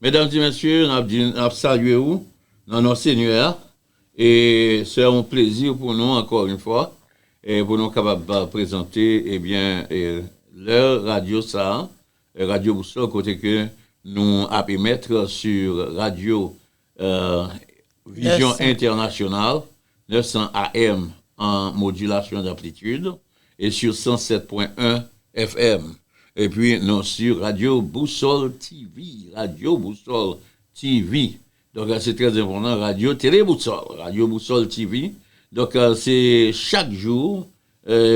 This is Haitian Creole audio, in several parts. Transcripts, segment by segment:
Medam ti mesye nap di nap salye ou nan non senyè a e se yon plezi pou nou ankò yn fwa pou nou kapab prezante ebyen lè radyo sa radyo boussole kote ke nou ap emetre su radyo vizyon entènasyonal 900 AM an modulation d'amplitude e sur 107.1 FM epi nou sur radio boussole TV radio boussole TV donk se trè enpòtan radio tele boussole radio boussole TV donk se chak jou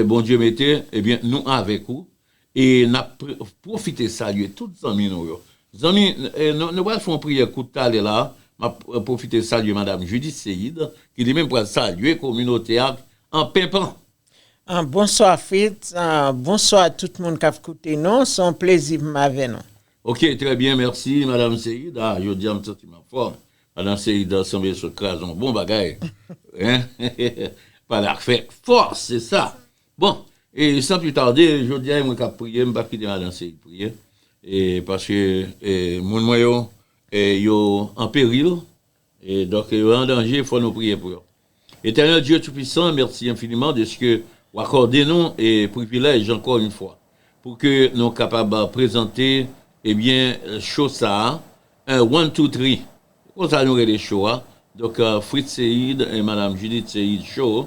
Bondye mete ebyen nou avèk ou E nap pwofite salye tout zanmi nou yo. Zanmi nou pral fè yon priyè kout talè la, map pwofite salye madam Judith Seïd ki li menm pral salye kominote a an penpan. Bonswa Fritz, bonswa tout moun kap koute nou, se yon plezi pou m avè nou. Ok trè byen mèsi madam Seïd, ah jodi a m santi m an fòm, madam Seïd sanble sot kraze yon bon bagay, pa la fè fòs se sa. Bon, e san pli tarde, jodi a e mwen k ap priye, m pap kite madan Seyid priye, e paske e moun mwen yo e yo an peril, e donk e yo an danje, fò nou priye pou yo. Etènèl Dye Toupisan, mèsi enfiniman dèske w akòde nou e privilèj ankò yon fwa, pou ke nou kapab prezante ebyen cho sa a, en one two three, se konsa nou rele cho a, donk Fritz Seyid e Madam Judith Seyid Show,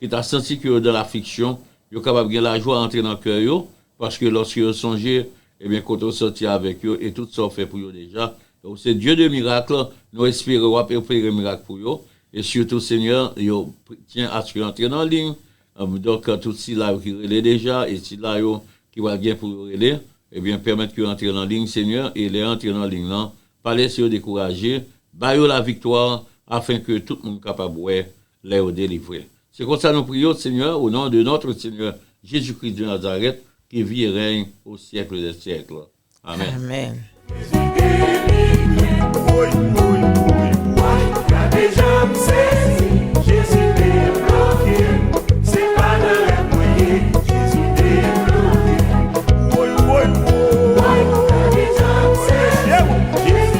Ki ta santi ke yo dan lafliksyon, yo kapab gen lajwa antre nan kè yo, paske lòske yo sonje, ebyen, kote ou sòti avèk yo, e tout sa ou fè pou yo deja, e ou se Dye de mirakl, nou espere w'ap opere mirak pou yo, e sitou, Senyè, yo tyen aske yo antre nan liy, donk, tout sila yo ki rele deja, e sila yo ki pral gen pou yo rele, ebyen, pèmèt ke yo antre nan liy, Senyè, e lè yo antre nan liy lan, pa lese yo dekouraje, ba yo laviktwa, afenke tout moun kapab wè. lè yo delivre. Se konsa nou priye w, Senyè, o non de nòtre Senyè Jezi Kris de Nazarèt, ki vi e règne o siècle dè siècle. Amèn.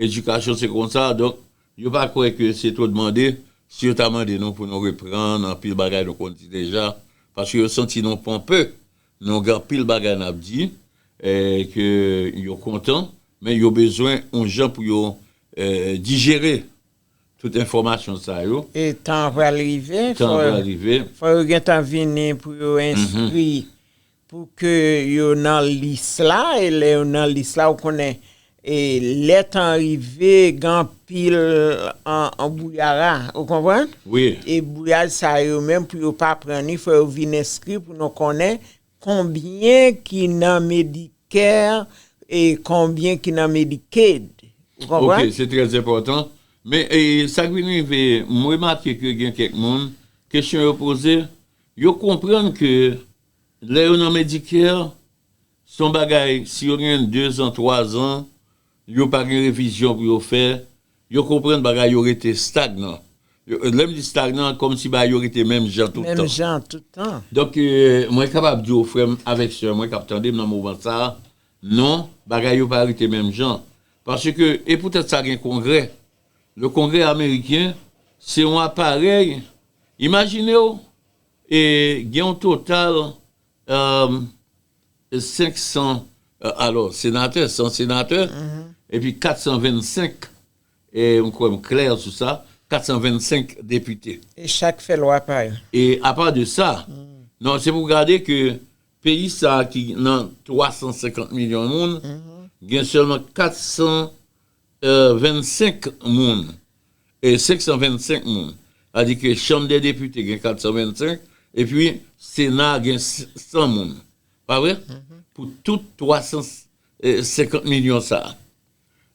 Edikasyon se konsa, donk yo pa kwè ke se twò dmande, si yo ta mande nou pou nou reprann anpil bagay nou konn di deja, paske yo santi nou ponpe, nou gen anpil bagay nap di, ke yo kontan, men yo bezwen yon jan pou yo dijere tout enfòmasyon sa yo. E tan an pral rive, fò yo gentan vini pou yo enskri Pou ke yo nan lis la, e lè yo nan lis la, ou konnen, e lè tan rive, gen anpil anbouyara, ou konprann? Wi. E bouyaj sa yo menm, pou yo pa pran li, fò yo vin enskri pou nou konnen konbyen ki nan Medicare e konbyen ki nan Medicaid. Ou konprann? Ok, se trè enpòtan. Men, e sa k vin rive, m remake ke gen kèk moun, kesyon yo poze, yo konprann ke Lè yo nan Medicare, se yon bagay, si yo gen dezan, twazan, yo pa gen revizyon pou yo fè, yo konprann bagay yo rete stagnan. Lè m di stagnan, kòmsi bagay yo rete menm jan tout tan. Menm jan tout tan. Donk, mwen kapab di w, frè m avèk sè mwen k ap tande m nan moman sa a, non, bagay yo pa rete menm jan. Paske, e poutèt sa gen Kongrè. Le Kongrè ameriken, se yon aparèy, imajine w, E gen yon total 500 alò senatè, 100 senatè epi 425, m kwè m klè sou sa, 425 depite. E chak fè lwa pa yo. E apa de sa, non se pou w gade ke peyi sa ki nan 350 milyon moun, gen sèlman 400 25 moun, 525 moun, sa di ke chanm dè depite gen 425, epi sena gen 100 moun, pa vre? Pou tout 350 milyon sa.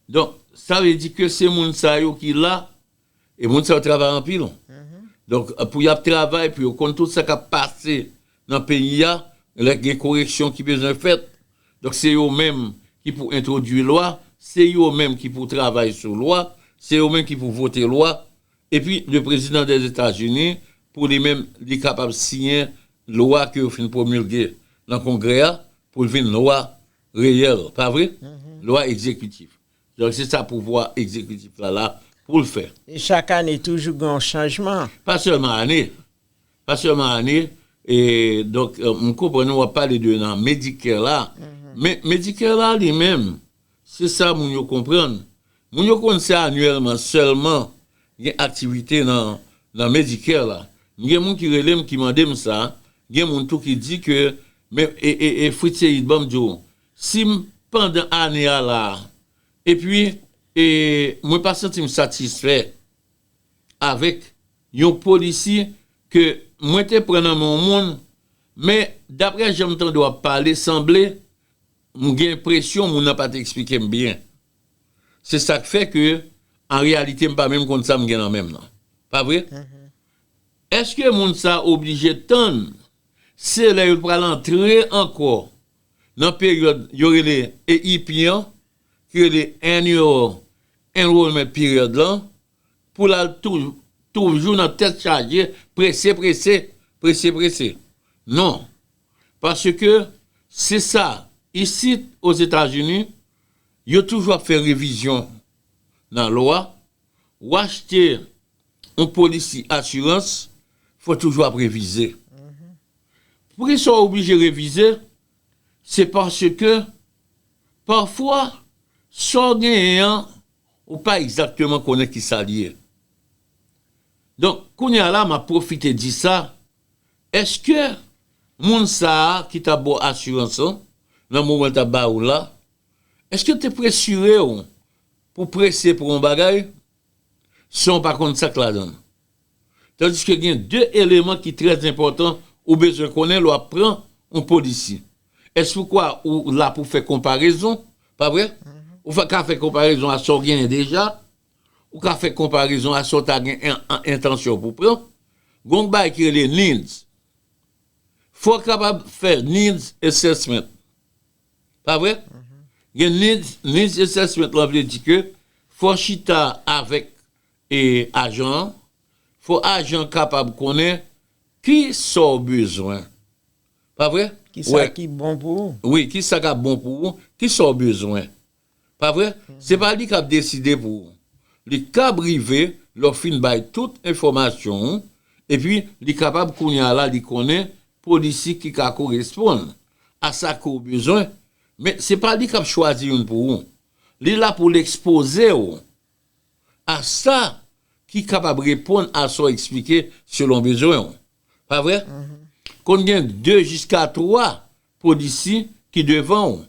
Donk, sa vle di ke se moun sa yo ki la E moun sa yo travay anpil. Donk pou y ap travay, pou yo konn tout sa k ap pase nan peyi a, lè gen koreksyon ki bezwen fèt, donk se yo menm ki pou entwodui lwa, se yo menm ki pou travay sou lwa, se yo menm ki pou vote lwa. Epi le prezidan dè Etazini pou li menm li kapab siyen lwa ke yo fin pwomilge nan kongrè a pou l vin lwa reyèl, pa vre? Lwa egzekitif. Donk se sa pouvwa egzekitif la la pou l fè. E chak ane toujou gen yon chanjman. Pa sèlman ane, pa sèlman ane, e donk m konprann ou ap pale de nan Medicare la, men Medicare la li menm, se sa moun yo konprann, moun yo konn se anyèlman sèlman gen aktivite nan Medicare la. M gen moun ki rele m ki mande m sa, gen moun tou ki di ke men e Fritz Seyid ban m di w, Sim pandan ane a la epi e mwen pa santim satisfè avèk yon policy ke mwen te pran nan men yon moun men daprè janm tande w ap pale sanble m gen enpresyon moun nan pa te eksplike m byen se sak fè ke an reyalite m pa menm konn sa m gen nan men m nan pa vre èske moun sa oblije tann se lè yo pral antre ankò nan peryòd yo rele EIP an, ki rele Annual Enrollment Period la, pou l al toujou nan tèt chaje prese prese, prese prese. Non. Paske se sa, isit Ozetazini, yo toujou ap fè revizyon nan lwa, w achte yon polisi asirans fò toujou ap revize. Poukisa w oblije revize, se paske pafwa sa w genyen an ou pa egzakteman konnen ki sa l ye. Donk kounye a la m ap pwofite di sa, èske moun sa a ki t ap ba w asirans lan nan moman l t ap ba ou la, èske l te presire w pou prese pou yon bagay san w pa konn sa k ladan l. Tandiske gen de eleman ki trè enpòtan ou bezwen konnen lè w ap pran yon polisi. Èske ou kwè ou la pou fè konparezon, pa vre? Ou fè ka fè konparezon a sa w genyen deja, ou ka fè konparezon a sa w ta gen entansyon pou pran. Gen yon bagay ki rele needs. Fò w kapab fè needs assessment. Pa vre? Gen needs, needs assessment lan vle di ke fò chita avèk e ajan an, fò ajan an kapab konnen ki sa w bezwen. Pa vre? Ki sa ki bon pou ou? Wi, ki sa k ap bon pou ou, ki sa w bezwen. Pa vre? Se pa li kap deside pou ou. Li kab rive lè w fin bay tout enfòmasyon ou, epi li kapab kounye a la li konnen polisi ki ka koresponn a sa ke w bezwen, men se pa li kap chwazi youn pou ou. Li la pou l ekspoze w a sa ki kapab reponn a sa w eksplike selon bezwen ou. Pa vre? Konn gen 2 jiska 3 polisi ki devan ou.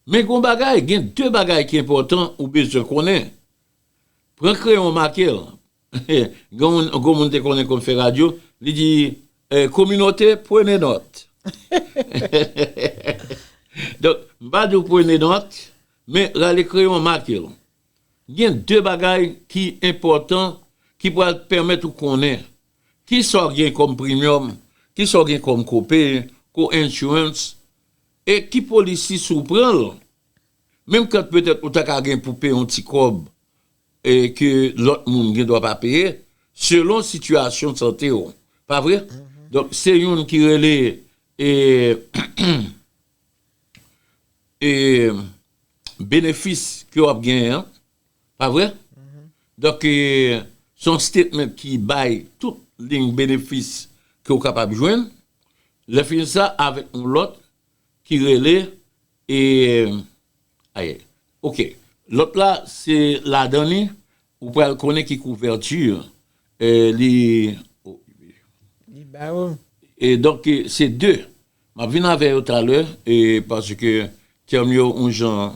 Men gon bagay, gen 2 bagay ki enpòtan ou bezwen konnen. Pran kreyon w make l. Gon moun te konnen konn fè radyo, li di, Kominote, pwene nòt. Donk, m pa di w pwene nòt, men rale kreyon w make l. Gen 2 bagay ki enpòtan ki pral pèmèt ou konnen kisa w gen kòm primyòm, kisa w gen kòm kopay, co-insurance, E ki policy si w pran l? Menm kant petèt ou ta ka gen pou peye yon ti kòb e ke lòt moun gen dwa pa peye, selon sitiyasyon sante w. Pa vre? Donk se youn ki rele e e benefis ke w ap genyen an. Pa vre? Donk, se yon statement ki bay tout lign benefis ke ou kapab jwenn. Lèfini sa, avèk yon lòt ki rele, aye, ok, lòt la se ladan li, ou pral konnen ki couverture li, e donk se 2. M ap vin avè yo talè, paske tèm yo yon jan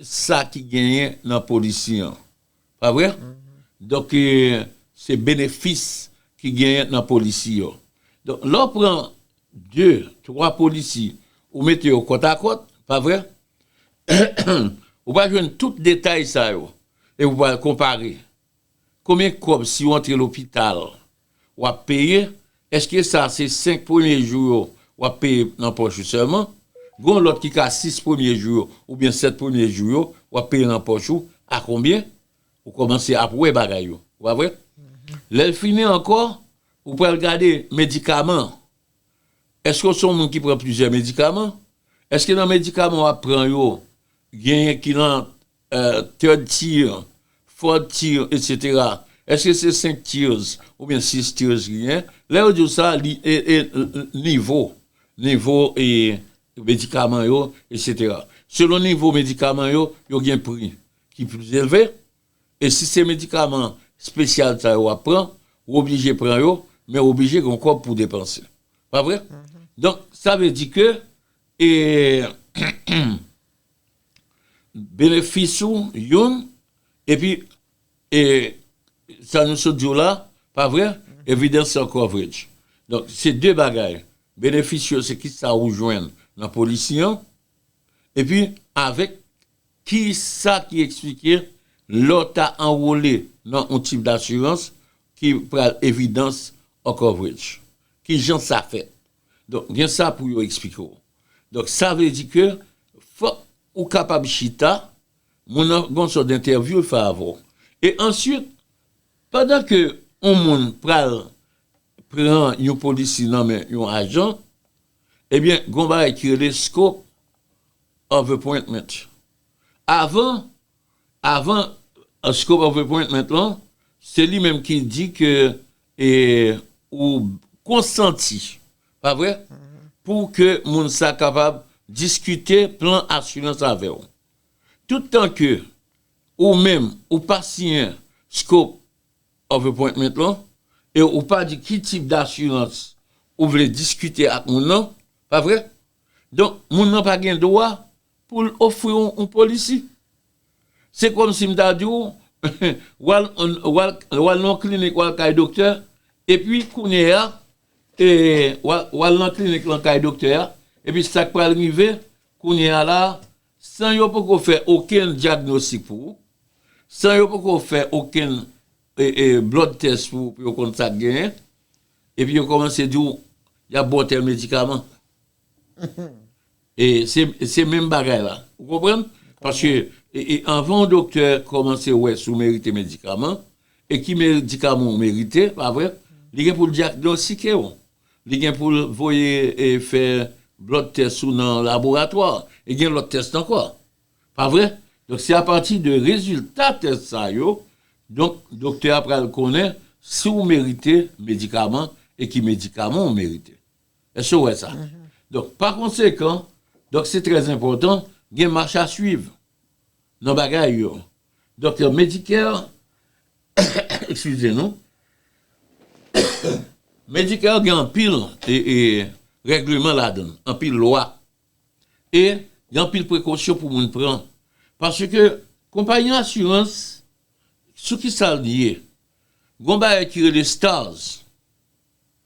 sa ki genyen nan polisi an pa vre donk se benefis ki genyen nan polisi yo donk lè w pran 2, 3 polisi ou mete yo kòtakòt pa vre ou pa jwenn tout detay sa yo epi w pral konpare Konbyen kòb si ou antre lopital wap peye, eske sa se 5 premye jou yo wap peye nan pòch ou sèlman, gen yon lòt ki ka 6 premye jou yo oubyen 7 premye jou yo wap peye nan pòch ou a konbyen, ou kòmanse ap wè bagay yo ou pa vre, lèl fini ankò ou pral gade medikaman, eske ou se yon moun ki pran plizyè medikaman, eske nan medikaman wap pran yo genyen ki nan third tier, fourth tier etc eske se 5 tiers oubyen 6 tiers ki gen, lè yo diw sa li nivo, nivo e medikaman yo etc selon nivo medikaman yo, yo gen pri ki plis elve e si se medikaman spesyal sa yo wap pran ou oblije pran yo men ou oblije gen yon kòb pou depanse pa vre? donk sa vle di ke e Benefis ou youn epi e sa nou sot diw la pa vre evidence of coverage donk se de bagay benefis yo se kisa ou jwenn nan polisi an epi avèk kisa ki eksplike lè w ta anwole nan yon tip dasirans ki pral evidence of coverage kijan sa fèt Donk gen sa pou yo eksplike w. Donk sa vle di ke fòk ou kapab chita, moun nan gen yon sòt dentèvyou l fè avè w. E answit, pandan ke yon moun pral pran yon polisi nan men yon ajan, ebyen gen yon bagay ki rele scope of appointment. Avan, Avan scope of appointment lan, se li menm ki di ke ou konsanti, pa vre? Pou ke moun sa kapab diskite plan asirans avè ou. Tout tan ke ou menm ou pa siyen scope of appointment lan, e ou pa di ki tip dasirans ou vle diskite ak moun nan, pa vre? Donk moun nan pa gen dwa Pou l ofri w yon polisi. Se kòmsi m ta di w, w al nan yon klinik, w al kay doktè, epi kounye a, w al nan klinik lan kay doktè a, epi sa k pral rive, kounye a la a, san yo poko fè okenn dyagnostik pou ou, san yo poko fè okenn blood test pou ou pou yo konn sa k genyen, epi yo kòmanse di w y ap ba w tèl medikaman. Se menm bagay la. Ou konprann? Paske anvan yon doktè kòmanse wè si w merite medikaman, e ki medikaman ou merite, pa vre? Li gen pou l dyagnostike w. Li gen pou l voye fè lòt tès ou nan laboratwa. E gen lòt tès ankò. Pa vre? Donk se apati de rezilta tès sa yo, donk doktè a pral konnen si w merite medikaman e ki medikaman ou merite. Èske w wè sa? Donk, pa konsekan, donk se trè enpòtan gen machasuiv nan bagay yo. Donk, Medicare, ekskize nou, Medicare gen anpil règleman ladan l, anpil lwa. E gen anpil prekosyon pou moun pran. Paske, konpayi asirans, sou ki sa l ye? Gon bagay ki rele stars.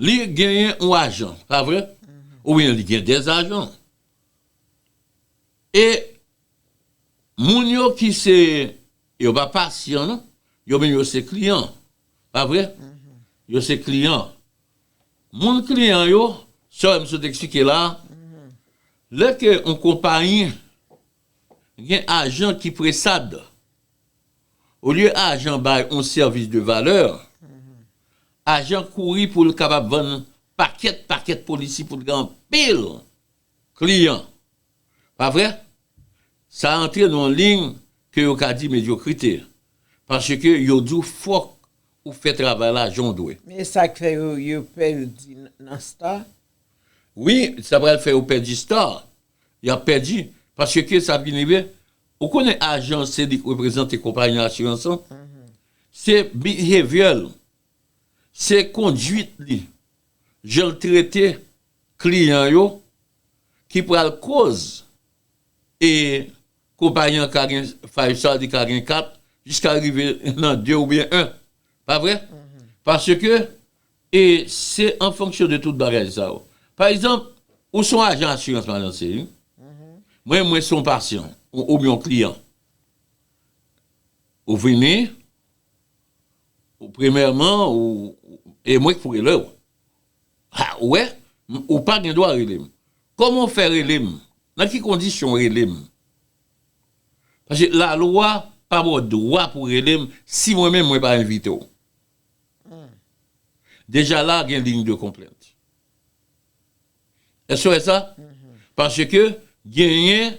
Li genyen yon ajan, pa vre? Oubyen li gen des ajan. E moun yo ki se, yo pa pasyan non, yo menm yo se kliyan, pa vre? Yo se kliyan. Moun kliyan yo, sa yo m sot eksplike la, lè ke yon konpayi Gen ajan ki presad. Olye ajan bay on sèvis de valè, ajan kouri pou l kapab vann pakèt pakèt polisi pou l gen anpil kliyan. Pa vre? Sa antre nan on liy ke yo ka di medyokrite. Paske yo di w fòk ou fè travay la jan w dwe. Men e sa k fè yo pèdi nan star? Wi, sa pral fè yo pèdi star. Yap pèdi, paske ke sa vin rive, ou konnen ajan se li k reprezante konpayi asirans lan, se behavior l, se konduit li, jan l trete kliyan yo ki pral koz e konpayi an ka gen 5 star, li ka gen 4, jiska rive nan 2 oubyen 1. Pa vre? Paske E se an fonksyon de tout bagay sa yo. Pa egzanp, ou son ajan asirans ma danse wi. Mwen mwen son pasyan oubyen yon kliyan. Ou vini, ou premyèman ou e mwen k pou rele w. Ha ou wè, ou pa gen dwa rele m. Kòman ou fè rele m? Nan ki kondisyon ou rele m? Paske lalwa pa ba w dwa pou rele m si mwen menm mwen pa envite w. Deja la gen ligne de complainte. Èske w wè sa? Paske genyen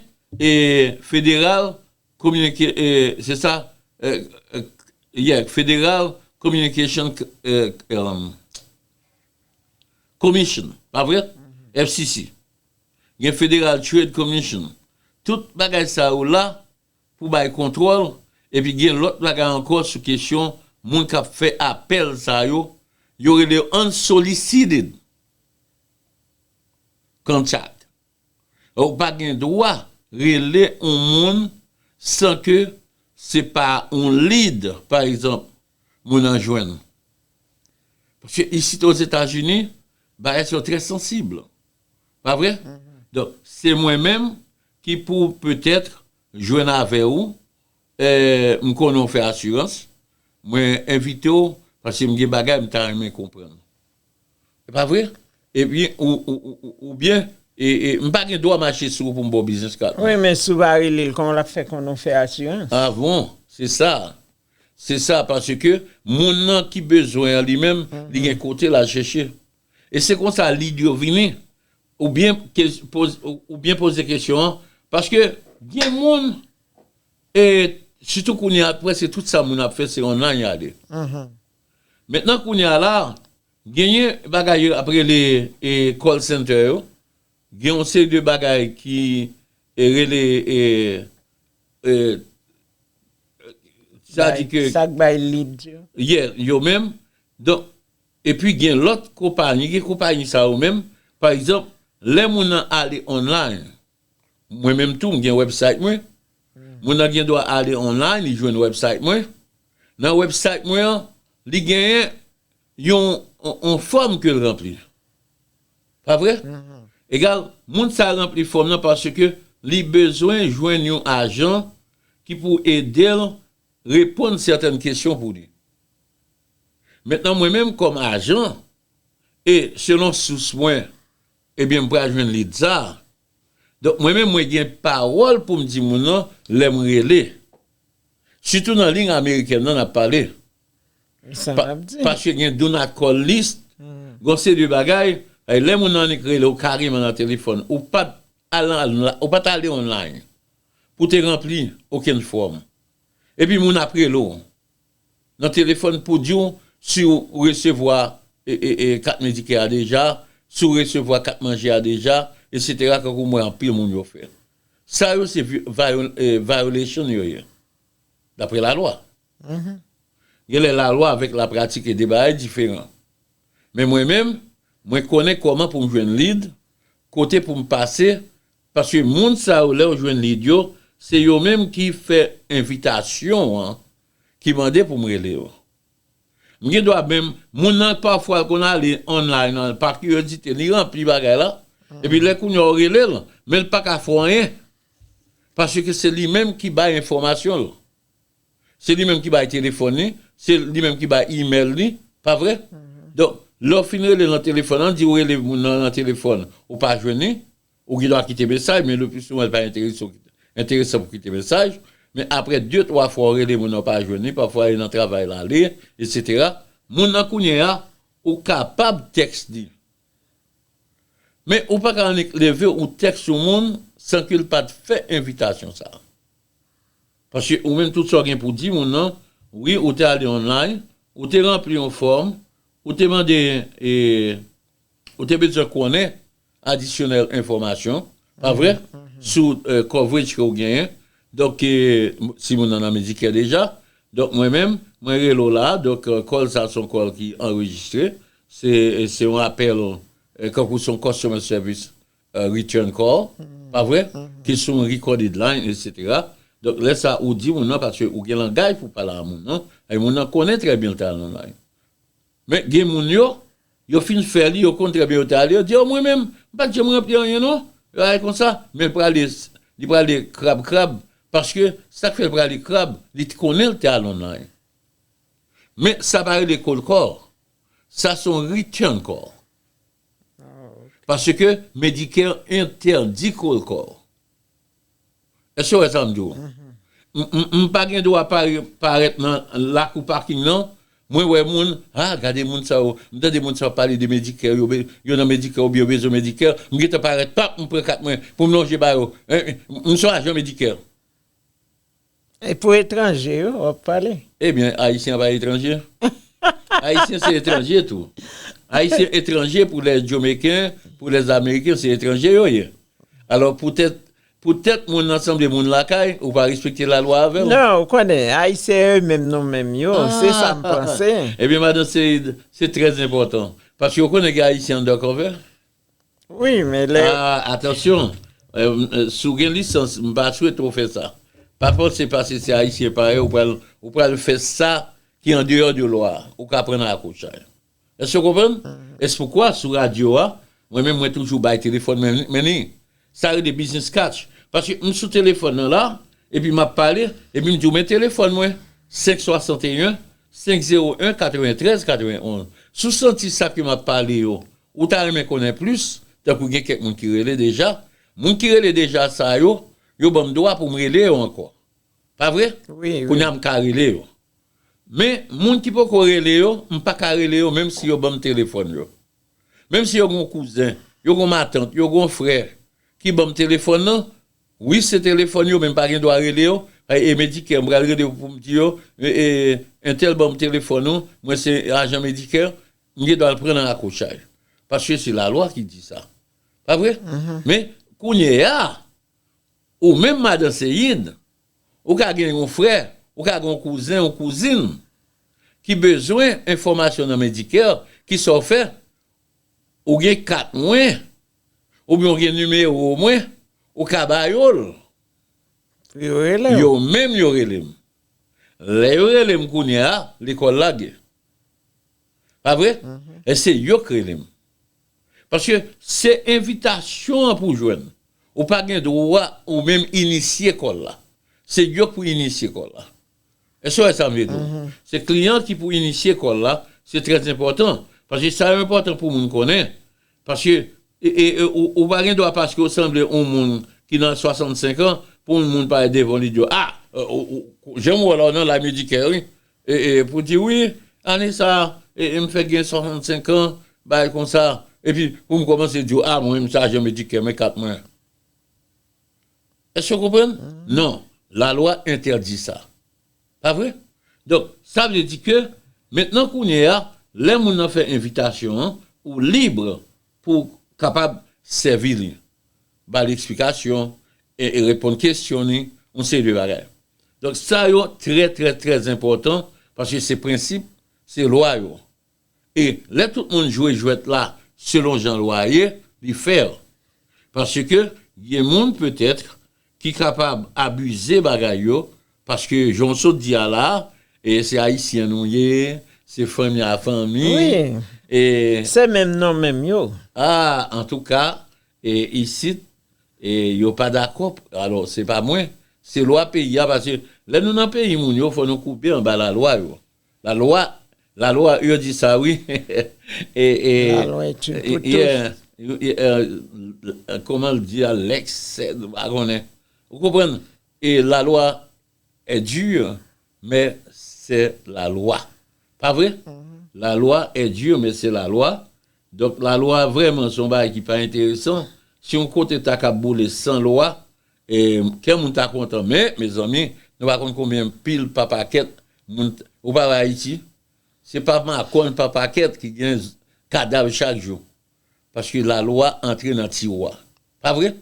federal kominike se sa ye federal communication commission pa vre? FCC. Gen federal trade commission. Tout bagay sa yo la. pou bay kontwòl epi gen lòt bagay ankò sou kesyon moun kap fè apèl sa yo, yo rele yo unsolicited contact. Ou pa gen dwa rele yon moun san ke se pa yon lead pa egzanp moun nan jwenn. Paske isit Ozetazini bagay sa yo trè sansib. Pa vre? Donk, se mwen menm ki pou petètre jwenn avè ou, m konnen w fè asirans, mwen envite w paske m gen bagay m ta renmen konprann. E pa vre? Epi oubyen m pa gen dwa mache sou ou pou m ba w biznis kad mwen. Wi, men si w pa rele l, kòman l ap fè konnen w fè asirans? A bon, se sa. Se sa, paske moun nan ki bezwen an li menm, li gen kote l al chèche. E se konsa lide yo vini, ou byen poze kesyon an, paske gen moun, e sitou kounye a preske tout sa moun ap fè se online ya ale. Mentnan kounye a la, genyen bagay yo ap rele call center yo, gen yon seri de bagay ki rele, sa di ke. Sa k bay lead yo. Yeah, yo menm. Donk, Epi gen lòt konpayi, gen konpayi sa yo menm, pa egzanp, lè moun nan ale online, mwen menm tou m gen website mwen, moun nan gen dwa ale online li jwenn website mwen, nan website mwen an, li genyen yon yon fòm ke l ranpli. Pa vre? Egal, moun sa ranpli fòm nan paske li bezwen jwenn yon ajan ki pou ede l reponn sètèn kesyon pou li. Mentnan mwen menm kòm ajan e selon sous mwen ebyen m pral jwenn lid sa a. Donk mwen menm mwen gen pawòl pou m di moun lan lè m rele. Sitou nan ling amerikèn nan n ap pale. Sa n ap di. Paske gen do not call list, gen yon seri de bagay, lè moun lan annik rele w kareman nan telefòn, ou pa t ou pa t ale online pou w te ranpli okenn fòm. Epi moun ap rele w. Nan telefòn pou di w si w resevwa kat Medicare a deja, si w resevwa kat manje a deja, etc. Kankou m wè anpil moun yo fè. Sa yo se violation yo ye, dapre lalwa. Gen lè lalwa avèk lapratik e de bagay diferan. Men mwen menm, mwen konnen kòman pou m jwenn lead, kote pou m pase Paske moun sa yo lèw jwenn lead yo se yo menm ki fè envitasyon an ki mande poum rele yo. M gen dwa menm moun nan pafwa l konn ale online an pa kiryozite li ranpli bagay la epi lè kounya w relel men l paka fè w anyen paske se li menm ki bay enfòmasyon l se li menm ki bay telefòn li se li menm ki bay email li pa vre donk lè w fin rele nan telefòn an di w rele moun nan nan telefòn ou pa jwenn li. Ou gen dwa kite mesaj, men lepisouvan li pa enteresan pou kite mesaj, men apre de twa fwa ou rele moun nan ou pa jwenn li, pafwa li nan travay la ale, etsetera, moun nan kounye a ou kapab tèks li. Men ou pa ka annik leve ou tèks yon moun san ke l pa t fè envitasyon sa a. Paske ou menm tout sa ou gen pou di moun nan, wi ou te ale online, ou te ranpli yon fòm, ou te mande, ou te bezwen konnen, Adisyonèl enfòmasyon, pa vre? Sou coverage ke ou genyen. Donk, si moun nan nan Medicare deja. Donk, mwen menm, mwen rele ou la a. Donk, call sa a se yon call ki anrejistre. Se, se yon apèl, kankou se yon customer service return call, pa vre? Ki sou yon recorded line, etc. Donk, lè sa a ou di moun nan, paske ou gen langay pou pale a moun nan, e moun nan konnen trè byen li te al nan line. Men gen moun yo, yo fin fè li, yo konn trè byen yo te ale, yo di, o mwen menm, m pa t janm ranpli anyen non, yo ale konsa, men l prale, li prale krab krab, paske sa k fè l prale krab, li t konnen l te alon nan anyen. Men sa pa rele cold call, sa se yon return call. Paske Medicare entèdi cold call. Èske w wè sa m di w? M pa gen dwa parèt nan lakou paking non, mwen wè moun, a gade moun sa yo, m tande moun sa yo ap pale de Medicare, yo nan Medicare oubyen yo bezwen Medicare, m gentan parèt pap m pran kat mwen pou m lonje ba yo, m son ajan Medicare. E pou etranje yo wap pale? Ebyen ayisyen pa etranje? Ayisyen se etranje tou. Ayisyen etranje pou lè jomeken, pou lè ameriken se etranje yo ye. Alò poutèt poutèt moun nan sanble moun lakay ou pa respekte lalwa avè l? Non ou konnen ayisyen yo menm nou menm yo se sa m panse. Ebyen madan Seid se trè enpòtan paske ou konnen gen ayisyen anndan kòve? Wi men lè. Ah atansyon si w gen lisans m pa swete w fè sa pa panse paske se ayisyen parèy w pral ou pral fè sa ki andeyò de lwa a ou ka pran nan akosay èske w konprann? èspoukwa sou radyo a mwen menm mwen toujou bay telefòn mwen ni Sa rele business catch. Paske m sou telefòn nan la, epi m ap pale, epi m di w men telefòn mwen, 5 61 5 01 93 91. Si w santi sa ke m ap pale yo, ou ta renmen konnen plis, tankou gen kèk moun ki rele deja, moun ki rele deja sa yo, yo ban m dwa pou m rele yo ankò. Pa vre? Kounye a m ka rele yo. Men, moun ki poko rele yo, m pa ka rele yo menm si yo ban m telefòn yo. Menm si yo gen yon kouzen, yo gen yon matant, yo gen yon frè ki banm telefòn nan, wi se telefòn yo men m pa gen dwa rele yo, e Medicare m pral rele yo pou m di yo entèl banm telefòn ou, mwen se ajan Medicare, m gen dwa al pran nan rakochay. Paske se lalwa ki di sa. Pa vre? Men, kounyeya, ou menm madan Céine, Ou ka gen yon frè, ou ka gen yon kouzen, yon kouzin ki bezwen enfòmasyon nan Medicare, ki sa w fè? Ou gen kat mwen, oubyen ou gen nimewo mwen, ou ka ba yo l. Pou yo rele w. Yo menm yo rele m. Lè yo rele m kounye a, lekòl lage. Pa vre? E se yo k rele m. Paske se envitasyon an pou w jwenn. Ou pa gen dwa ou menm inisye kòl la. Se yo k pou inisye kòl la. Èske w wè sa m vle di w la? Se kliyan ki pou inisye kòl la. Se trèzenpòtan. Paske sa enpòtan pou moun konnen. Paske ou pa gen dwa paske ou sanble yon moun ki nan 65 an pou yon moun pale devan w li di w, a! Jan m wè w la ou nan laj medikè wi. ee pou di wi ane sa ee m fèk gen 65 an bagay konsa epi pou m kòmanse di w a mwen m sajè medikè men kat mwen èske w konprann non lalwa entèdi sa pa vre donk sa vle di ke mentnan kounye a lè moun nan fè envitasyon an ou libre Pou w kapab sèvi li, ba li eksplikasyon, e reponn kesyon li, yon seri de bagay. Donk sa yo trè trè trè enpòtan paske se prensip, se lwa yo. E lè tout moun jwe jwèt la selon jan lwa a ye, li fair. Paske gen moun petèt ki kapab abize bagay yo paske jan w sot di a la e se ayisyen nou ye se fanmi a fanmi wi e se menm non menm yo a antouka e isit e yo pa dakò alò se pa mwen se lwa peyi a pase lè nou nan peyi moun yo fò nou koube anba lalwa yo. La loi la loi yo di sa wi la loi est une pour tous comment le dit Alex m pa konnen ou konprann e la loi est dure men se la loi pa vre la loi est dure men se la loi donk la loi vreman son bagay ki pa enteresan si yon kote ta kab boule san loi E kè moun ta kontan men mezanmi nou pa konn konbyen pil pa pakèt moun ou pa wè ayiti se pa makòn pa pakèt ki gen kadav chak jou paske la lwa antre nan tiwa pa vre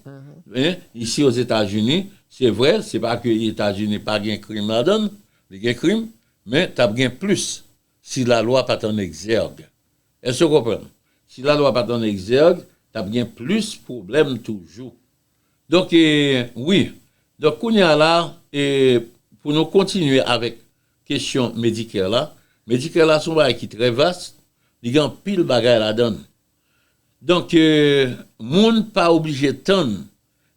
men isi o zeta zini se vre se pa ke eta zini pa gen krim la dann li gen krim men tap gen plis si la lwa pat an egzèg eske w konprann si la lwa pat an egzèg tap gen plis pwoblèm toujou. Donk e wi, donk kounye a la e pou nou kontinye avèk kesyon Medicare la, Medicare la son bagay ki trè vas, li gen anpil bagay ladan l. Donk e moun pa oblije tann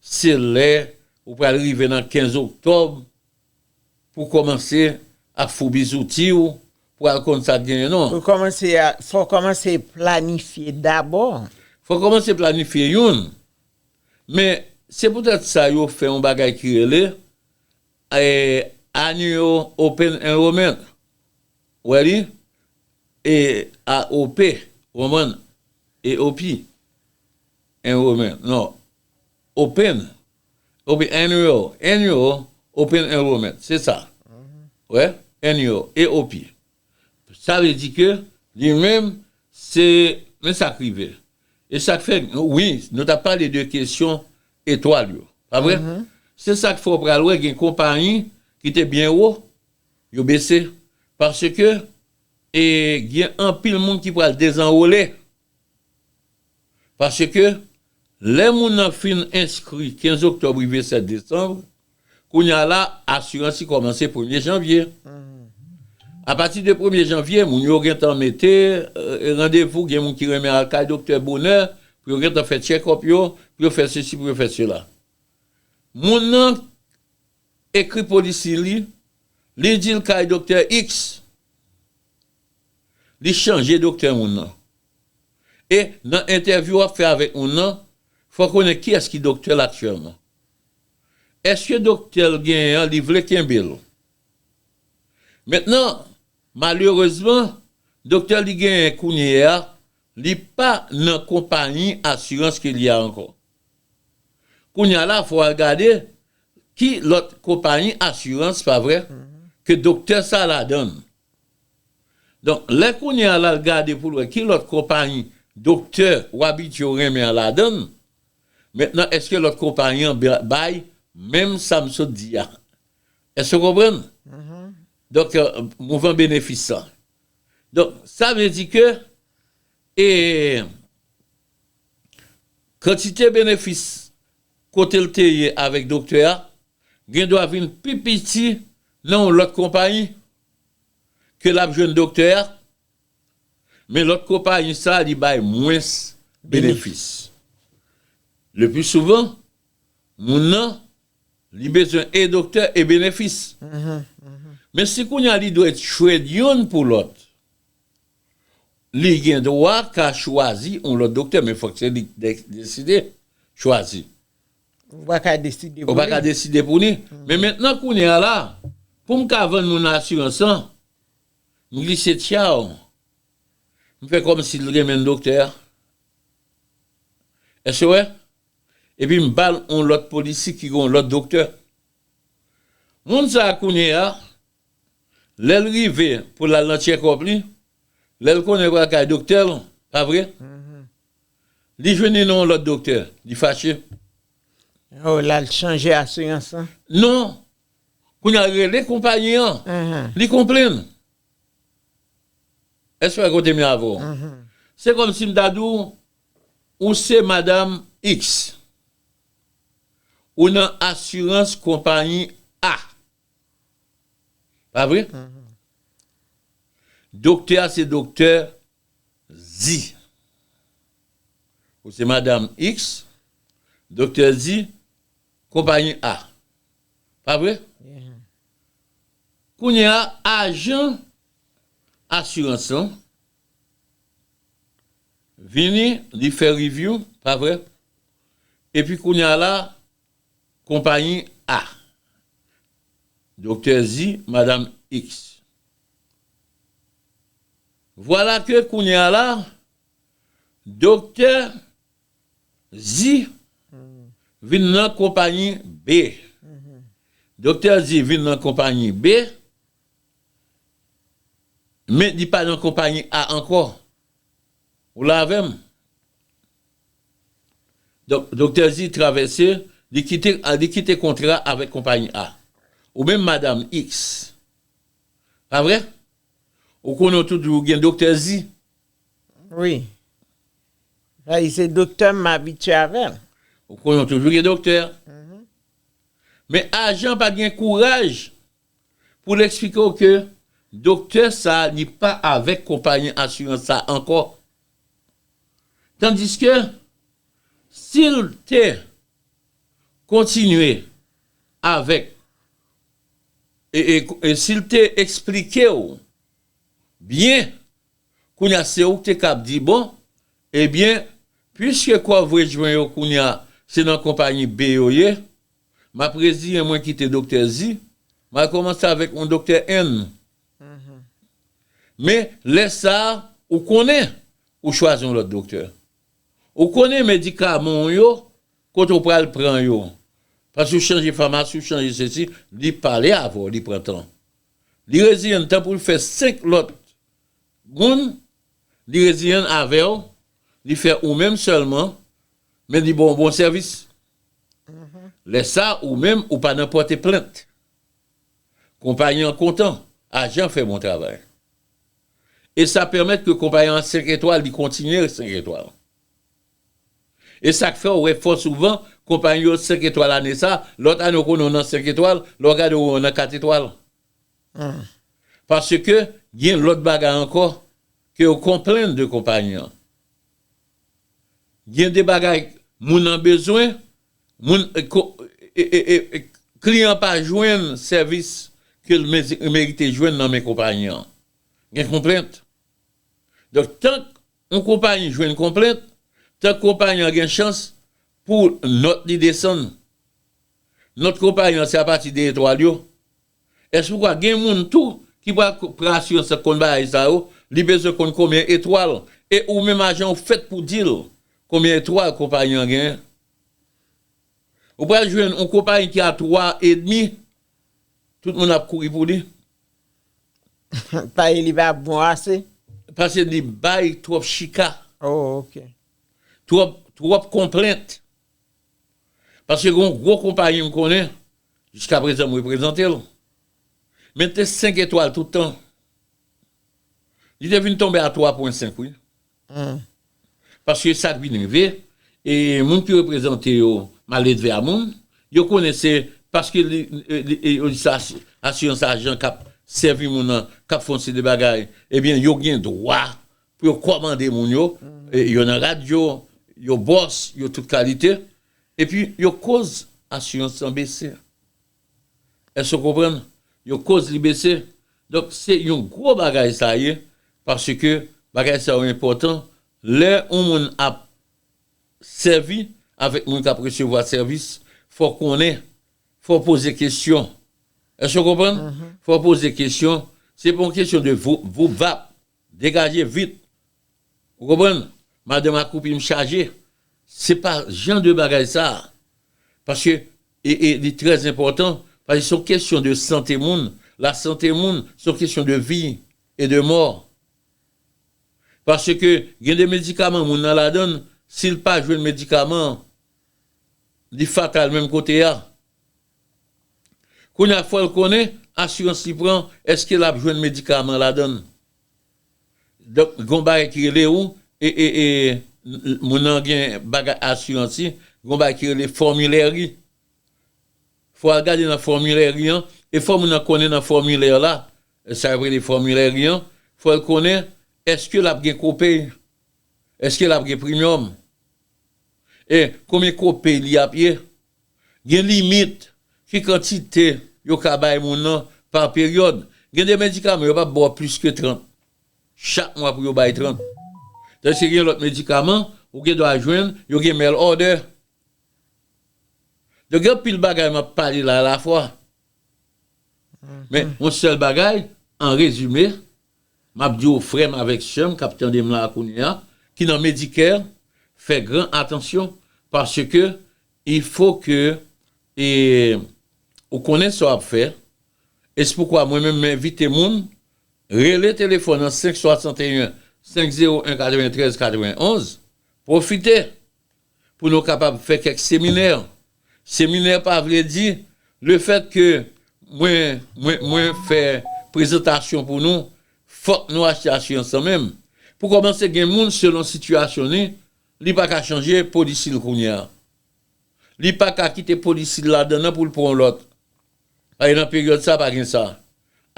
se lè ou pral rive nan 15 oktòb pou w kòmanse ap foubi zouti w pou al konn sa k genyen non. Pou kòmanse a, fò w kòmanse planifye dabò. Fò w kòmanse planifye youn Men, se poutèt sa yo fè yon bagay ki rele, Annual Open Enrollment, ou wè li, AOP, ou konprann, AOP, Enrollment, non, Open, ok, Annual, Annual Open Enrollment, se sa, ou wè, Annual, AOP, Sa vle di ke li menm se men sa k rive. E sa k fè wi nou t ap pale de kesyon etwal yo, pa vre? Se sa k fè ou pral wè gen konpayi ki te byen wo yo bese paske e gen anpil moun ki pral dezanwole. Paske, lè moun nan fin enskri 15 oktòb rive 7 desanm, kounye a la, asirans li kòmanse premye janvye. Apati de premye janvye, moun yo gen tan mete randevou, gen moun ki renmen al kay doktè bonè, pou yo gen tan fè tchèkòp yo, pou yo fè sesi, pou yo fè sela. Moun nan ekri polisi li, li di l kay doktè iks. Li chanje doktè moun nan. E nan entèvyou wap fè avèk moun nan, fòw konnen kiyès ki doktè l aktyèlman. Eske doktè l genyen an li vle kenbe l. Mentnan, malerezman, doktè li genyen kounye a, li pa nan konpayi asirans ke li a ankò. Kounye a la fòw al gade ki lòt konpayi asirans, pa vre, ke doktè sa ladan l. Donk, lè kounye a l'al gade pou l wè ki lòt konpayi doktè ou abitye ou renmen an ladan l, mentnan èske lòt konpayi an bay menm sa m sot di a? Èske ou konprann? Donk, mouvman benefis lan. Donk, sa vle di ke e kantite benefis kote l te ye avèk doktè a gendwa vin pi piti nan yon lòt konpayi ke l ap jwenn doktè a, men lòt konpayi sa li bay mwens benefis. Lepli souvan, moun nan li bezwen e doktè e benefis. Men si kounye a li dwe trade youn pou lòt, Li gen dwa ka chwazi yon lòt doktè men fòk se li k deside chwazi. Ou pa ka deside pou li. Ou pa ka deside pou li. Men mentnan kounye a la, pou m ka vann moun nan asirans lan, m glise tyaw, m fè kòmsi l renmen doktè a. Èske w wè? Epi m ba l yon lòt polisi ki gen yon lòt doktè. Moun sa a kounye a. Lèl rive pou lal nan check up li, lèl konnen pral kay doktè l, pa vre? Li jwenn li nan yon lòt doktè, li fache. Oh lal chanje asirans lan? Non, kounya li rele konpayi an, li konplenn. Èske w wè kote m ye avè w? Se kòm si m ta di w, ou se madam X, ou nan asirans konpayi A. Pa vre? Doktè a se doktè Zi. Ou se madam X, doktè Zi, konpayi A. Pa vre? Kounye a, ajan asirans lan vini, li fè reviou, pa vre? Epi kounye a la, Konpayi A. Doktè di Madam X. Vwala ke kounye a la, Doktè di vin nan konpayi B. Doktè di vin nan konpayi B, men li pa nan konpayi A ankò. Ou la avè m? Donk, Doktè Zi travèse, li kite, li kite kontra avèk konpayi A. Ou menm Madam Iks. Pa vre? Ou konnen ou toujou gen Doktè Zi? Wi. Sa di se doktè m, m abitye avè l. Ou konnen ou toujou gen doktè. Men ajan pa gen kouraj Pou l eksplike w ke doktè sa li pa avèk konpayi asirans sa ankò. Tandiske si l te kontinye avèk, si l te eksplike w byen, kounye a se ou ki te ka ap di bon, ebyen, puiske coverage mwen yo kounye a se nan konpayi B yo ye, Map reziyen mwen kite doktè zi, mal komanse avek yon doktè N. Men lè sa ou konnen ou chwazi yon lot doktè. Ou konnen medikaman w yo kote ou pral pran yo. Pase ou chanje famasi ou chanje sesi, li pale avè w li pran tan. Li reziyen tan pou l fè 5 lot moun, li reziyen avè w, li fè ou menm selman, men li ba w bon sèvis. Lè sa ou menm ou pa nan pòte plent. Konpayi an kontan, ajan fè bon travay. E sa pèmèt ke konpayi an 5 etwal li kontinye 5 etwal. E sak fè ou wè fò souvan konpayi yo 5 etwal ane sa, lòt ane ou konnen ou nan 5 etwal, lè ou gade ou wè ou nan 4 etwal. Paske gen lòt bagay ankò ke yo konplenn de konpayi an. Gen de bagay moun an bezwen, moun kliyan an pa jwenn sèvis ke l merite jwenn nan men konpayi an. Gen konplent. Donk tank yon konpayi jwenn konplent, tank konpayi an gen chans pou nòt li desann. Nòt konpayi an se apati de etwal yo Èske ou kwè gen moun tou ki pral pran asirans nan konn bagay sa yo, li bezwen konn konbyen etwal, e ou menm ajan ou fèt pou di l konbyen etwal konpayi an genyen? Ou pral jwenn yon konpayi ki a 3 edmi, tout moun ap kouri pou li. Paye li pa bon ase? Pase li bay twòp chika. Oh ok. Twòp konplent. Pase gen yon gwo konpayi m konnen, Jiska prezan m reprezante l. Men l te 5 etwal tout tan. Li te vin tonbe a 3 pwen 5 wi. Paske sa k vin rive, e moun ki reprezante yo maledve a moun, yo konnen se paske yo di sa asirans ajan k ap sèvi moun nan, k ap fè yon seri de bagay, ebyen yo gen dwa pou yo kòmande moun yo, yo nan radyo, yo bòs, yo tout kalite. Epi yo koz asirans lan bese. Èske w konprann? Yo koz li bese. Donk, se yon gwo bagay sa ye, paske bagay sa yo enpòtan. Lè yon moun ap sèvi avèk moun k ap resevwa sèvis, fò w konnen, fò w poze kesyon. Èske w konprann? Fò w poze kesyon. Se pa yon kesyon de voup voup vap. Degaje vit. Ou konprann? Madanm akoupi m chaje. Se pa jan de bagay sa a. Paske e li trè enpòtan, paske se yon kesyon de sante moun. Lasante moun se yon kesyon de vi e de mò. Paske gen de medikaman moun nan ladan, si l pa jwenn medikaman an, li fatal menm kote a. Kounye a fòl konnen asirans li pran eske lap jwenn medikaman ladann. Donk gon bagay ki rele ou moun nan gen bagay asirans li, gon bagay ki rele fòmilè ri. Fò al gade nan fòmilè ri an e fò moun nan konnen nan fòmilè la, sa yo rele fòmilè ri an, fòl konnen eske lap gen kopay. Eske lap gen primyòm? E konbyen kopay li ap ye? Gen limit ki kantite yo ka bay moun nan pa peryòd? Gen de medikaman yo pap ba w plis ke 30 chak mwa pou yo bay 30. Tandiske gen lòt medikaman ou gen dwa jwenn yo gen mail order. Donk gen anpil bagay map pale la alafwa. Men yon sèl bagay an rezime M ap di w frè m avèk sè m k ap tande m la a kounye a, ki nan Medicare, fè gran atansyon, paske il fo ke e ou konnen sa w ap fè, e se poukwa mwen menm m envite moun rele telefòn an 5 61 501 93 91, pwofite pou nou kapab fè kèk seminè. Seminè pa vle di lefèt ke mwen, mwen, mwen fè prezantasyon pou nou, fòk nou achte asirans lan menm. Pou kòmanse gen moun selon sitiyasyon li, li pa ka chanje polisi l kounye a. Li pa ka kite polisi l ladan nan pou l pran yon lòt. Paske nan peryòd sa pa gen sa.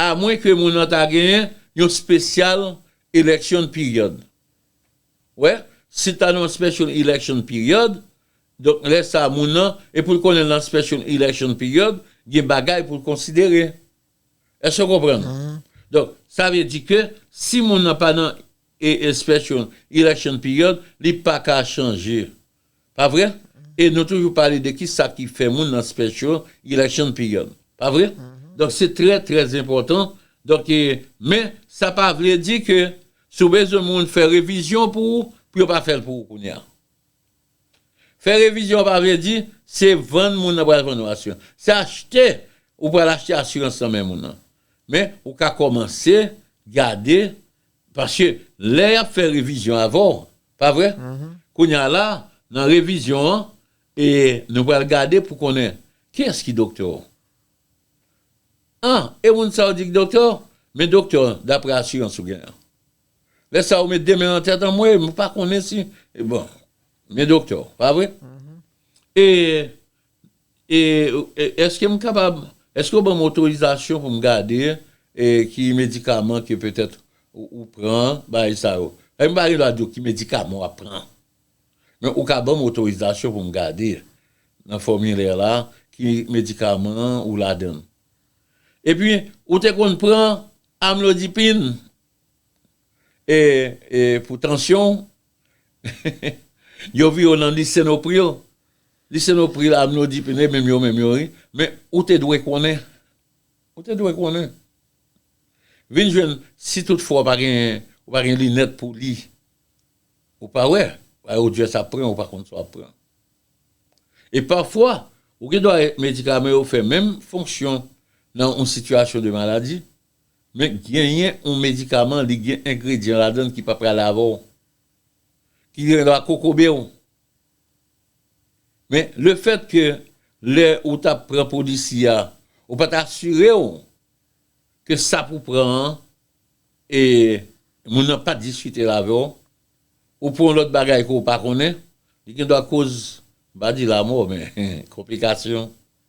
Amwen ke moun nan ta genyen yon special election period. Wè, si ta nan special election period, donk lè sa moun nan, e pou l konnen nan special election period, gen bagay pou l konsidere. Èske w konprann? Donk, sa vle di ke si moun nan pa nan special election period, li pa ka chanje Pa vre? E nou toujou pale de ki sa ki fè moun nan special election period. Pa vre? Donk se trè trè enpòtan. Donk e, men sa pa vle di ke si w bezwen moun fè revizyon pou ou, pou yo pa fè l pou ou kounye a. Fè revizyon pa vle di se vann moun nan pral vann ou asirans. Se achte, ou pral achte asirans nan men moun nan. Men ou ka kòmanse gade, paske lè y ap fè revizyon avè w, Pa vre? Kounye a la, nan revizyon an, e nou pral gade pou konnen kiyès ki doktè w. Ah, e moun sa ou di ki doktè w? Men doktè w daprè asirans ou gen an. Lè sa ou met de men nan tèt, anmwey, mwen pa konnen si, bon, men doktè w, pa vre? E Eske m kapab, eske ou ban m otorizasyon pou m gade ki medikaman ke petèt ou pran, bagay sa yo. Epi m pa gen dwa di w ki medikaman w ap pran. Men ou ka ban m otorizasyon pou m gade nan fòmilè la ki medikaman ou ladan l. Epi ou te konn pran amlodipin? E pou tansyon w, yo voye w nan lisenopril. Lisenopril, amlodipine, menm yo menm yo wi. Men ou te dwe konnen. Ou te dwe konnen. Vin jwenn si tout fwa w pa gen, ou pa gen linèt pou li. Ou pa wè. Paske ou just ap pran, ou pa konn sa w ap pran. E pafwa, ou gen dwa medikaman yo fè menm fonksyon nan yon sitiyasyon de maladi. Men genyen yon medikaman li gen engredyan ladann ki pa prale avè w, ki gen dwa kokobe w. Men le fèt ke lè ou tap pran polisi a, ou pat asire w ke sa pou pran an e moun nan pat diskite l avè w, ou pran yon lòt bagay ke w pa konnen, li gen dwa koz, m pa di lamò men konplikasyon.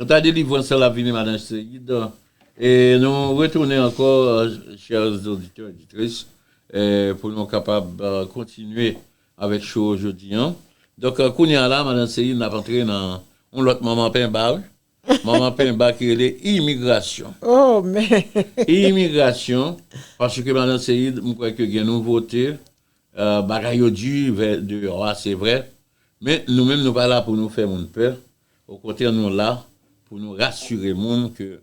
Kanta delivrans sa lap vini madan Seyid e nou retounen ankò chers auditeurs auditrices pou nou kapab kontinye avèk show jodi an donk kounya la madan Seyid nap antre nan yon lòt manman penba wi manman penba ki rele imigrasyon oh men imigrasyon paske madan Seyid m kwè ke gen nouvote bagay yo di deyò a se vrè men nou menm nou pa la pou nou fè moun pè. Okontrè nou la pou nou rasire moun ke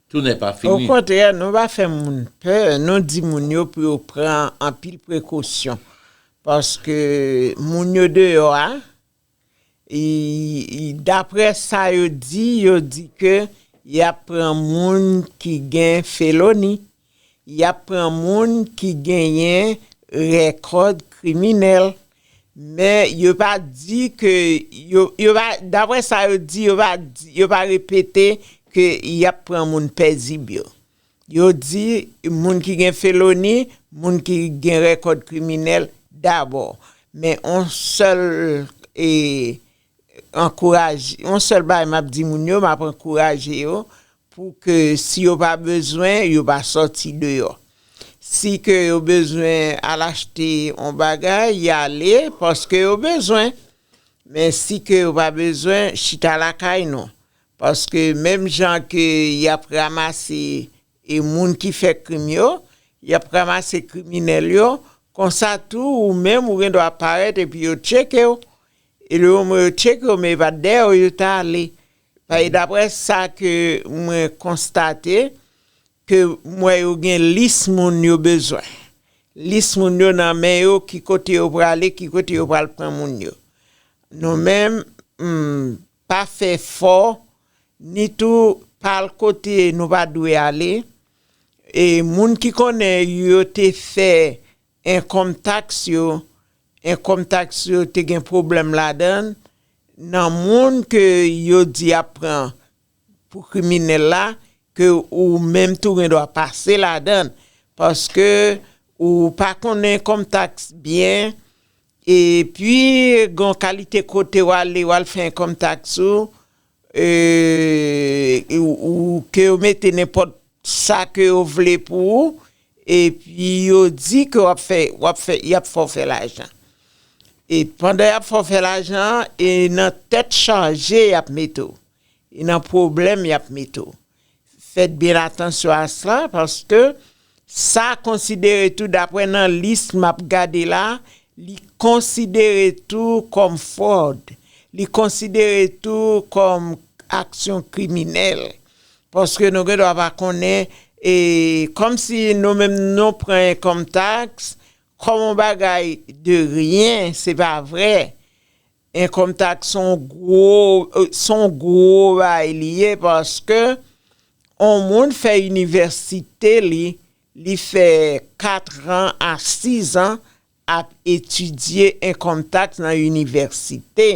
tounè pa fini. Okontrè nou pa fè moun pè, nou di moun yo pou yo pran anpil prekosyon paske moun yo deyò a, daprè sa yo di, yo di ke yap pran moun ki gen feloni, Y ap pran moun ki genyen rèkòd kriminèl. Men yo pa di ke, yo pa, daprè sa yo di, yo pa di, yo pa repete ke y ap pran moun pèzib yo. Yo di moun ki gen feloni, moun ki gen rèkòd kriminèl dabò. Men yon sèl ankouraje, yon sèl bagay map di moun yo map ankouraje yo pou ke si yo pa bezwen yo pa sòti deyò. Si ke yo bezwen al achte yon bagay y ale paske yo bezwen men si ke yo pa bezwen chita lakay nou paske menm jan ke yap ramase E moun ki fè krim yo, y ap ranmase kriminèl yo, konsa tou ou menm ou gen dwa parèt epi yo tcheke w, e le moman yo tcheke w men e pa dèyè w yo ta ale. Paske daprè sa ke mwen konstate, ke m wè yo gen lis moun yo bezwen. Lis moun yo nan men yo ki kote yo prale, ki kote yo pral pran moun yo. Nou menm, pa fè fò, ni tou pa al kote nou pa dwe ale, e moun ki konnen yo te fè encome tax yo, encome tax yo te gen pwoblèm ladan, nan moun ke yo di yap pran pou kriminèl la, ke ou menm tou gen dwa pase ladan, paske ou pa konnen encome tax byen, E pi gon kalite kote w ale w al fè enkòm taks ou ou ke yo mete nenpòt sa ke yo vle pou ou e pi yo di ke w ap fè w ap fè y ap fè w fè lajan. E pandan y ap fè w fè lajan an e nan tèt chaje y ap mete w e nan pwoblèm y ap mete w. Fèt byen atansyon a sa paske sa konsidere tou daprè nan lis map gade la li konsidere tou kòm fwòd, li konsidere tou kòm aksyon kriminèl paske nou gen dwa pa konnen e kòm si nou menm nou pran enkòm taks kòm yon bagay de ryen se pa vrè Income tax son w gwo son w gwo bay li ye paske on moun fè inivèsite li li fè 4 ran a 6 an ap etidye income tax nan inivèsite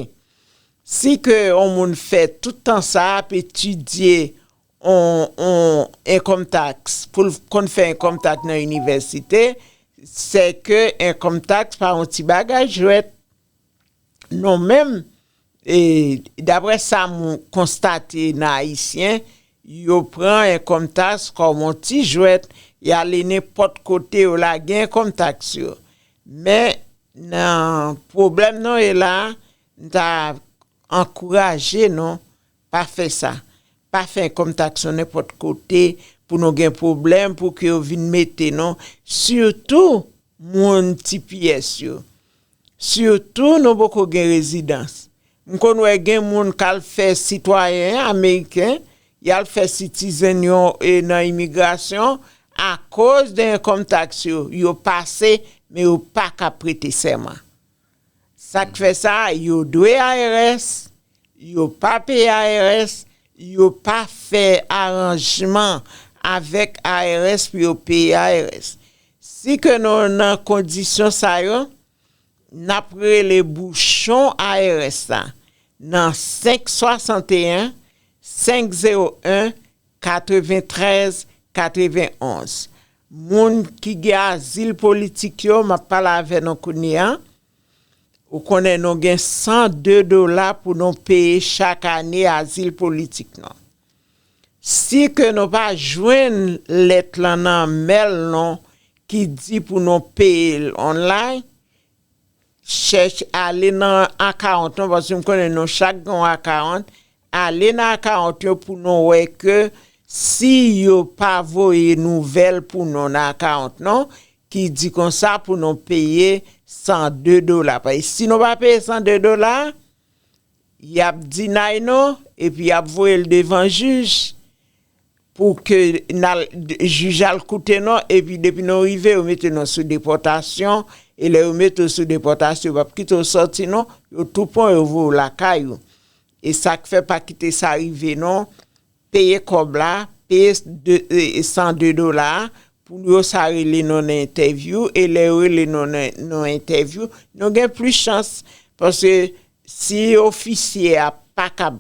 si ke on moun fè tout tan sa ap etidye on on income tax pou l konn fè income tax nan inivèsite sè ke income tax pa on ti bagay jwèt. Nou menm, dapre sa m konstate nan Ayisyen, yo pran enkonmtaks kòm yon ti jwèt, y ale nenpòt kote yo lage enkonmtaks yo. Men nan pwoblèm nou ye la, m ta ankouraje nou pa fè sa. Pa fè enkonmtaks nou nenpòt kote pou nou gen pwoblèm pou ke yo vin mete nou, sitou moun tipiyès yo. Surtout nou poko gen rezidans. M konn wè gen moun kal fè sitwayen ameriken, yal fè citizen yo nan imigrasyon akoz de enkom tax yo, yo pase men yo paka prete sèman. Sak fè sa yo dwe IRS, yo pa peye IRS, yo pa fè aranjman avèk IRS pou yo peye IRS. Si ke nou nan kondisyon sa yo, n ap rele bouchon ARS la nan 561 501 93 91. Moun ki gen azil politik yo, m ap pale avè nou kounye a. Ou konnen nou gen 102 dola pou nou peye chak ane azil politik nou. Si ke nou pa jwenn lèt lan nan mail nou ki di pou nou peye l online, chèche ale nan account nou paske m konnen nou chak gen yon account, ale nan account yo pou nou wè ke si yo pa voye nouvèl pou nou nan account nou ki di konsa pou nou peye 102 dola. Paske si nou pa peye 102 dola, Yap di nay non epi yap voyel devan jij pou ke nal jij al koute non epi depi nou rive yo mete nou sou depòtasyon e lè yo mete ou sou depòtasyon yo pap kite ou sòti non yo tou pwan yo voye ou lakay ou esak fè pa kite sa rive non. Peye kob la, peye 102 dola a pou yo sa rele nou nan entèvyou e lè yo rele nou nan entèvyou nou gen plis chans paske si ofisye a pa ka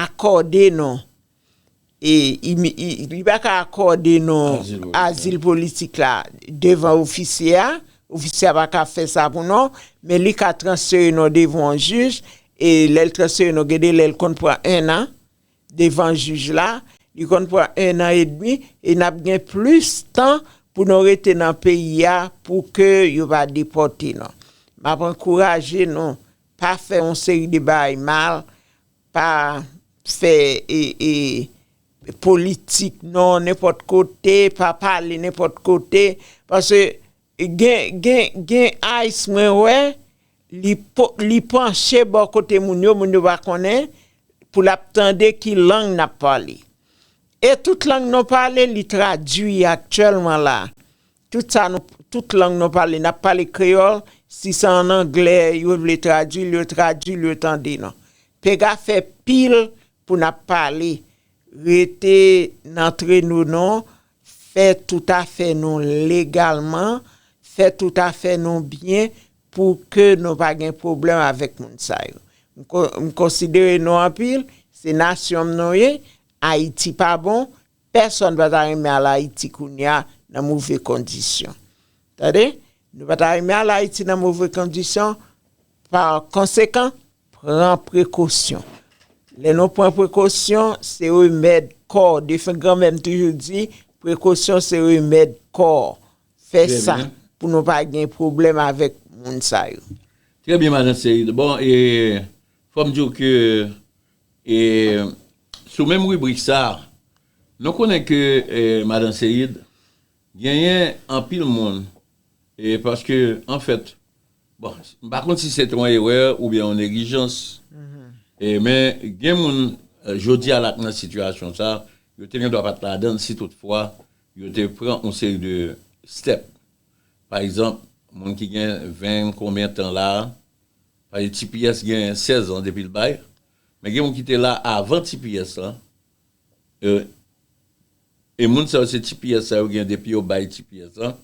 akòde nou e li pa ka akòde nou azil politik la devan ofisye a, ofisye a pa ka fè sa pou nou men li ka transfere nou devan yon jij e lè l transfere nou gen de lè l konn pran 1 an. devan jij la, li konn pran 1 an edmi e nap gen plis tan pou nou rete nan peyi a pou ke yo pa depòte nou. Map ankouraje nou pa fè yon seri de bagay mal, pa fè politik non nenpòt kote, pa pale nenpòt kote, paske Gen gen gen ice mwen wè li li panche bò kote moun yo moun yo pa konnen pou lap tande ki lang nap pale e tout lang nou pale li tradwi aktyèlman la tout sa nou tout lang nou pale nap pale kreyòl si se an anglè yo vle tradwil yo tradwil yo tande nou pega fè pil pou nap pale rete nan tre nou non. fè tout afè nou legalman, fè tout afè nou byen pou ke nou pa gen pwoblèm avèk moun sa yo. M konsidere nou anpil, se nasyon m nou ye, Ayiti pa bon, pèsonn pa ta renmen al Ayiti kounye a nan move kondisyon. Tande, nou pa ta renmen al Ayiti nan move kondisyon, pa konsekan, Pran prekosyon. Lè nou pran prekosyon, se remèd kò. Defen granmè m toujou di, prekosyon se remèd kò. Fè sa pou nou pa gen pwoblèm avèk moun sa yo. Trè byen madan Ceide. Bon e fò m di w ke e sou menm ribrik sa, nou konnen ke madan Ceide Genyen anpil moun e paske anfèt bon m pa konn si se te yon erè oubyen yon neglijans e men gen moun jodi a la k nan sitiyasyon sa yo te gendwa pa t ladan l si tout fwa yo te pran yon seri de stèp pa egzanp moun ki gen 20 konbyen tan la paske tps gen 16 an depi l bay men gen moun ki te la avan tps lan. e moun sa yo se ti pyès sa yo gen depi yo bay ti pyès lan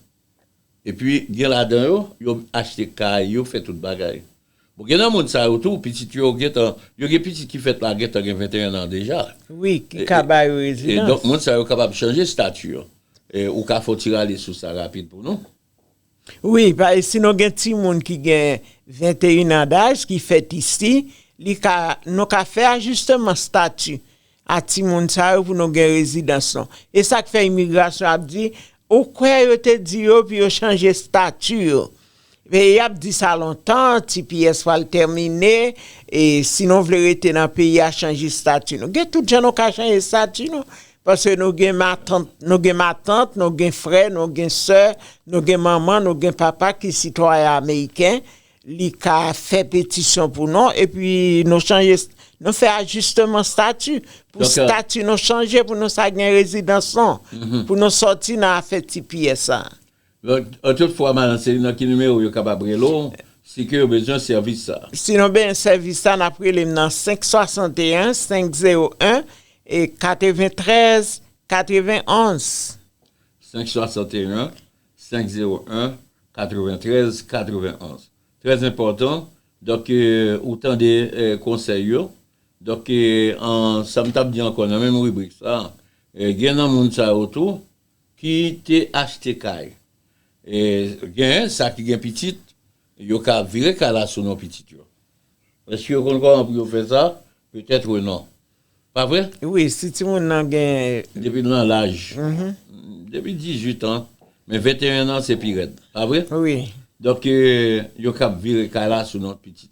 epi gen ladan yo yo achte kay yo fè tout bagay bon gen nan moun sa yo tou pitit yo gentan yo gen pitit ki fèt la gentan gen 21 an deja wi ki ka ba yo rezidans e donk moun sa yo kapab chanje stati yo ou ka fè yon ti rale sou sa rapid pou nou. Wi, si nou gen timoun ki gen 21 an daj ki fèt isi, nou ka fè ajisteman stati a timoun sa yo pou nou gen rezidans nou. E sa k fè imigrasyon ap di, ou kwè yo te di yo pou yo chanje stati yo. Y ap di sa lontan, tps pral tèmine, e si nou vle rete nan peyi a chanje stati nou. Gen tout jan nou ka chanje stati nou. Paske nou gen matant, nou gen matant, nou gen frè, nou gen sè, nou gen manman, nou gen papa ki sitwayen ameriken, li ka fè petisyon pou nou, epi nou chanje, nou fè ajisteman stati, pou stati nou chanje, pou nou sa gen rezidans nou, pou nou sòti nan afè tps sa. Antout fwa madan Celine nan ki nimewo yo kapab rele w si ke yo bezwen sèvis sa? Si nou bezwen sèvis sa nap rele m nan 561 501 93 91. 561 501 93 91 trè enpòtan donk ou tande konsèy yo donk an sa m tap di ankò nan menm ribrik sa gen nan moun sa yo tou Ki te achte kay. E gen sa ki gen pitit, yo ka vire kay la sou non pitit yo. Èske yo konn kòman pou yo fè sa? Petèt wi non. Pa vre? Wi, si timoun nan gen. Depi l nan laj. Depi 18 an. Men 21 an se pi rèd. Pa vre? Wi. Donk yo kab vire kay la sou non pitit.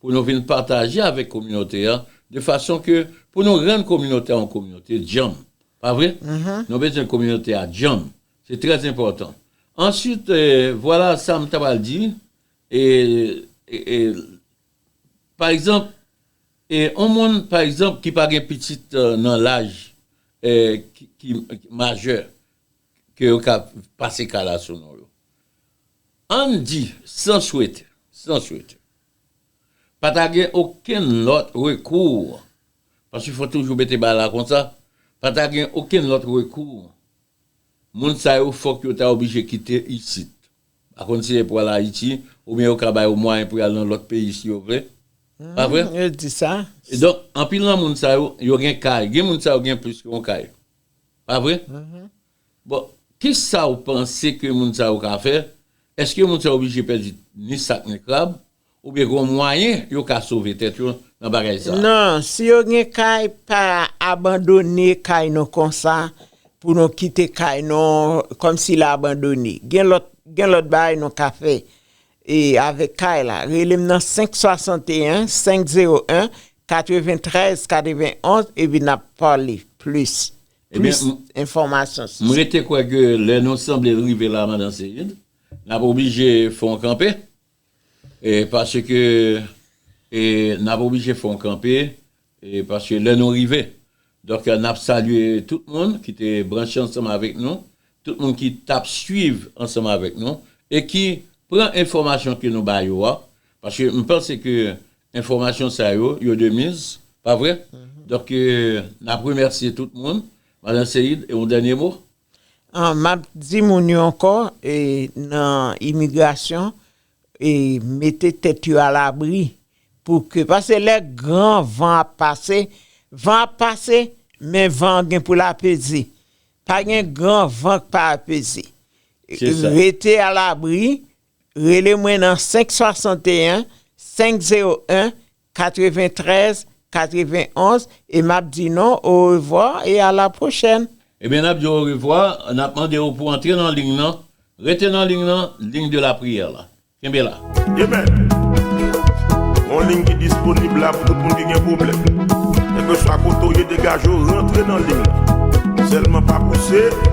pou nou vin pataje avèk kominote an de fason ke pou nou rann kominote a yon kominote djanm pa vre nou bezwen kominote a djanm se trè enpòtan answit vwala sa m ta pral di e e pa egzanp e yon moun pa egzanp ki pa gen pitit nan laj e ki majè ke yo ka pase kala sou non yo. Ann di, san swete, san swete, pa ta gen okenn lòt rekou, paske fò toujou mete ba la konsa, pa ta gen okenn lòt rekou, moun sa yo fòk yo ta oblije kite isit. Pa konn si e pou al Ayiti, oubyen yo ka ba yo mwayen pou y al nan lòt peyi si yo vle. Pa vre? Yo di sa. Donk, anpil nan moun sa yo, yo gen kay. Gen moun sa yo gen plis ke yon kay. Pa vre? Bon, ki sa ou panse ke moun sa yo ka fè? Eske moun sa yo oblije pèdi ni sak ni krab? Oubyen gen yon mwayen yo ka sove tèt yo nan bagay sa? Non, si yo gen kay, pa abandone kay nou konsa pou nou kite kay nou kòm si la abandone. Gen lòt, gen lòt bagay nou ka fè avèk kay la. Rele m nan 561 501 93 91 epi nap pale plis plis enfòmasyon sou sa. M rete kwè ke lè nou sanble rive la Madan Seid, nap oblije fè yon kanpe paske nap oblije fè yon kanpe paske lè nou rive Donk nap salye tout moun ki te branche ansanm avèk nou, tout moun ki tap swiv ansanm avèk nou e ki pran enfòmasyon ke nou ba yo a, paske m panse ke enfòmasyon sa yo, yo de miz, pa vre? Donk nap remèsye tout moun. Madan Seïde, yon dènye mo? Map di moun yo ankò, nan imigrasyon, mete tèt yo alabri pou ke pase lè gran van ap pase van ap pase men van an gen pou l apeze pa gen gran van k pa apeze rete alabri rele mwen nan 561 501 93, 91 e map di nou orevwa e a la pwochèn. Ebyen nap diw orevwa, nap mandew pou antre nan ling nan, rete nan ling nan, ling de la priyè la. Kenbe la. Amen! Yon ling ki disponib la pou tout moun ki gen pwoblèm. Kelkeswa kote ou ye degaje w rantre nan ling nan. Sèlman pa pouse.